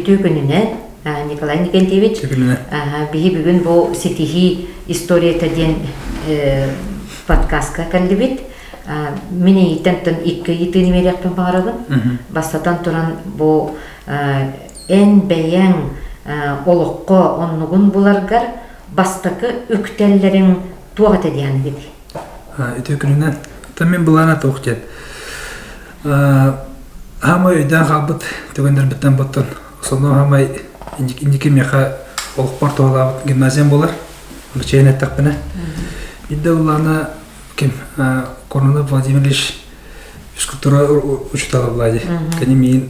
Үтүө күнүнэн, Николай Николаевич. Биһи бүгүн бу ситиһии историята диэн подкастка кэллибит. Мин эйиттен тын икки ыйытыын имериэхпин баҕарабын. Бастатан туран бу эн бэйэң олоххо оннугун буларгар бастакы үктэллэриҥ туох этэ диэхгит ити күнүнэн тэммин былаана туох диэн хаамай өйдөөн хаалбыт түгэннэрбиттэн боттон сонно хаамай инники миэхэ олохпор туолаабыт гимназиям болар чейн эттэхпинэ Идда Улана ким Коронов Владимирович физкультура учитала Влади кини миин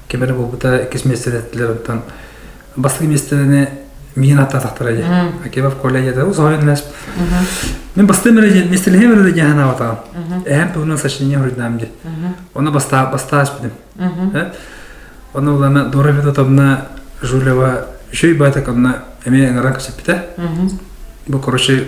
ким эрэ буолбута иккис миэстэни эттилэр оттон бастакы миэстэни миин аттаатахтара дии Акимов Коля дьэ усоһорун эмэс мен бастым миэстэлэһим эрэ дьаһан аабатаҕым эһэм туһунан сочинение хоруйдаам ди оны бастаа бастаас бидим оны улана Дора Федотовна Жулева үшөй баатак онна эме ыңаран кэсиппитэ бу короче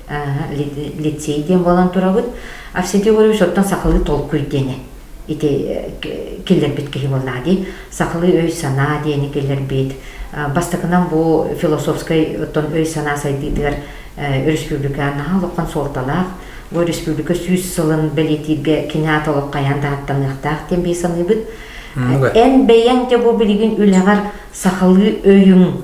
лицей диэн буолан турабыт. Арсентий Егорович оттон сахалыы толкуй диэни ити киллэрбит киһи буоллаҕа дии. Сахалыы өй-санаа диэни киллэрбит. Бастакынан бу философскай оттон өй-санаа сайдыытыгар өрөспүүбүлүкэ наһаа олоххон суолталаах. Бу республика сүүс сылын бэлиэтииргэ киноата олох хайаан да ааттаныахтаах диэн бии саныыбыт. Эн бэйэҥ де бу билигин үлэҕэр сахалыы өйүҥ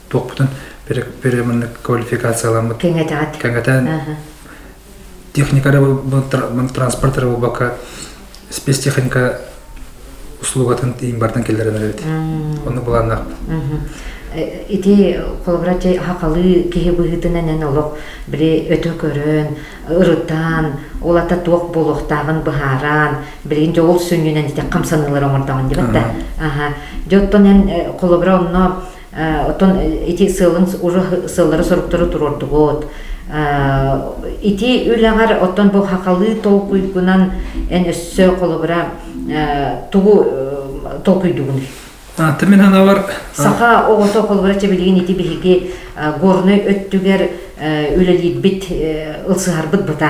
туохпутун переманнык квалификацияламмыт кэҥэтэҕит кэҥэтэн техника транспорт рабобака спецтехника услугатын иин бартан келлерен эребит онну былааннаахпыт ити холобура хахалы киһи быһыытынан эн олох били өтө көрөн ырытан олата туох буолуохтааҕын быһааран билигин дьэ ол сүнньүнэн ити хамсаныылары оҥордоҕун дибэтте аха дьэ оттон эн холобура онно Оттон ити сыалын уже сыаллары-соруктары туруордубут. Ити үлэҕэр оттон бу хахалыы толкуйгунан эн өссө холобура тугу толкуйдугун? Ты мен ханавар саха оҕото холобура чэбилигин ити биһиги горнай өттүгэр үлэлиирбит ылсыһарбыт быта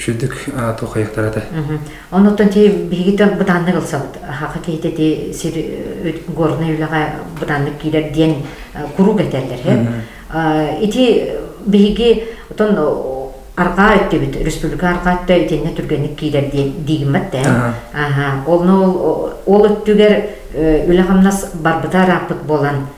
Үрдүк аату хайыктара да. Онуттан ти биһигиттэн бытааннык ылсабыт. Хаха киһитэ ти сир горнай үлэҕэ бытааннык киирэр диэн куруук этэллэр. Ити биһиги отон аргаа эттибит республика аргаа өттө итинне түргэнник киирэр диэн диигиммат тэ. Аха. Олну ол өттүгэр үлэ хамнас барбыта ырааппыт болан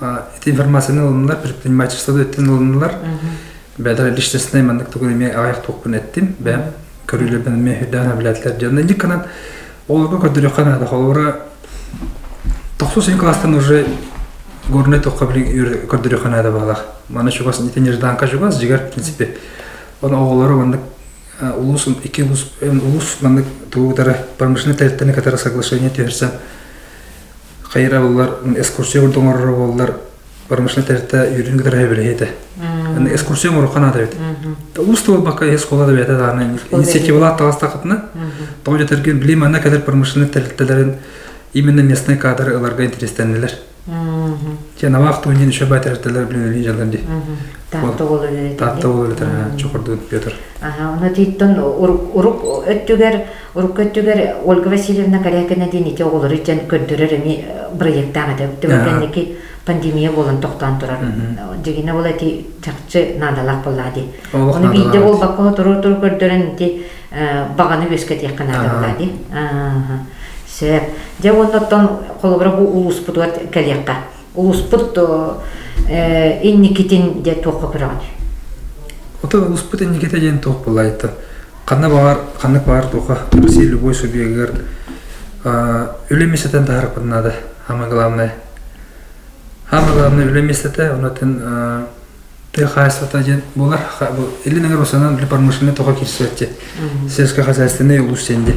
эти информацияны ылынылар предпринимательство өттүн ылынылар бэдэр личностнай маннык тугун эмиэ аҕайах туохпун эттим бэм көрүүлэрбин эмиэ үрдээн эбилээтилэр диэн инникканан олорго көрдөрүөххэ наада холобура тохсус син класстан уже горный тохха билин көрдөрүөххэ наада баалах маны чугас ити нежданка чугас жигар принципи оны оҕолору маннык улус iki улус улус маннык тугутары промышленный территорияны катары соглашение түһэрсэн хайыралылар экскурсия курдук оҥорор буоллар промышленнай тэрилтэ үөрүн кытары сөбүлэһиэ этэ. Экскурсия оҥорохха наада эбит. Уус тыл бакка ис школа да бэйэтэ даана инициативалаах таластахытына, тоҕо дьэтэрген билим манна кэлэр промышленнай тэрилтэлэрин именно местный кадры ыларга интерестеннилэр. Тенавах туһунан еще бай тэрилтэлер билинилии жалдан ди. Таатта болулі. Таатта болулі чокордун Петр. Аха, оны титтон уруп өттүгер Урукку өттүгэр Ольга Васильевна Корякина диэн ити оҕолору итиэн көрдөрөр эмиэ проекттаах этэ. Түмүк кэнники пандемия буолан тохтоон турар. Дьигинэ ол эти чахчы наадалаах буоллаа дии. Ону биирдэ буолбакка туру-туру көрдөрөн ити баҕаны үөскэтиэххэ наада буоллаа дии. Сөп. Дьэ уонна оттон холобура бу улууспутугар кэлиэххэ. улууспут инникитин де туохха көрөҕүн? Ото улууспут инниките диэн туох болайта? Ханна баар ханна баар туха Россия любой субъегар үлэ местетен тахарыппын нада самое главное. Самое главное үлэ местете, онотын ты хаайсата диэн болар илин эрусанан үлэ промышленный тоха кирсетте сельско хозяйственный улус сенде.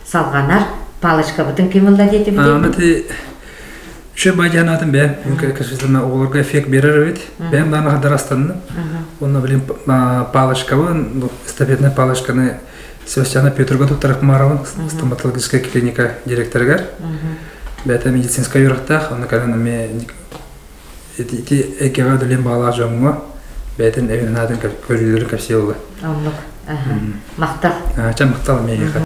салҕанар палочкабытын ким ылла диэтибит ити үчүгэй байдиан аатын бэйэм конечно оҕолорго эффект берер эбит бэйэм даҕаны хадарастанным онно блин палочкабын эстафетная палочканы Севастьяна Петрга туттарар Хумаровын стоматологическая клиника директорыгар бэйэтэ медицинскай үрэхтээх онно кэлэн эмиэ ити экеҕэ үлэлиэн баалаах дьоҥҥо бэйэтин өйүн-аатын көрүүлэрин кэпсии ылла. Оннук. Махтал. Чэ, махтал миэхэ.